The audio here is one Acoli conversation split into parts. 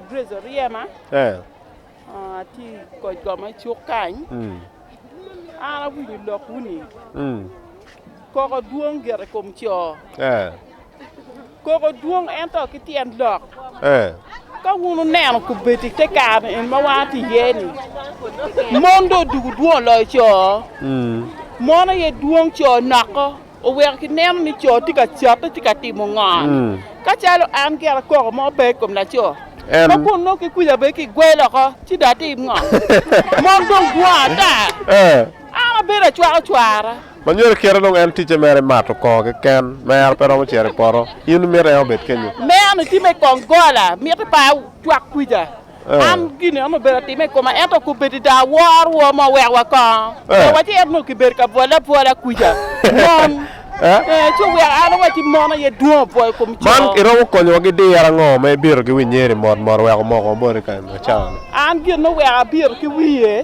Grace Oryema, atye i koc kom ma cuk kany. An awinyo lok wuni koko dwong gire i kom co. Koko dwong ento ki tyen lok. Ka wun oneno kubedi te kare en ma wan ti iye ni mon do dugu dwong loyo co. Mon aye dwong co noko. oweko kineno ni co tye ka catte tye ka timo ngon, ka calo an gira koko mo pe i kom laco, ma kun nongo kikwica bene kigwel oko, ci dong atim ngo? Mon dong gwongo ata, an abedo acwako cwara. Ma myero kite dong en ticce mere mato koko keken, mero pe romo cito i poto, in imito en obed kenyo. Meno tye me kongola, miti pa cwak kwica. An gin an obedo atime i koma ento kubedi da awor rwom ma wek wa kongo. Pe waci ento nongo kibedo ka bwole abwola kwica. Mon. Eh, ci wek an awaci mon aye dwong obwo i kom Man co. iromo konyowa ki diro ango ma ibito ki winyeri mot mot wek omoko boti kany ma cawa-ni? An gin oweko abito ki wiye,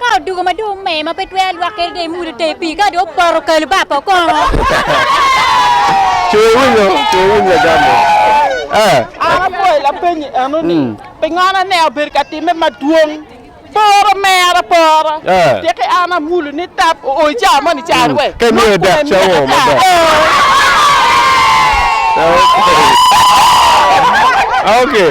Ka odoko ma dong omer ma pe twero alwakke dong imulo teng pii ka dong opoto kalo ba pa okongo. Cwer winyo, cwer winy lagam-mi. Ah. An abwoyo lapenyi eno ni, Pingo na ne abedo ka timme madwong? Poro mera pora. Tiki an amulo ni tap oo i cawa moni cari we. Ka imiyo dek cawa oo ma dek. Okay. Okay.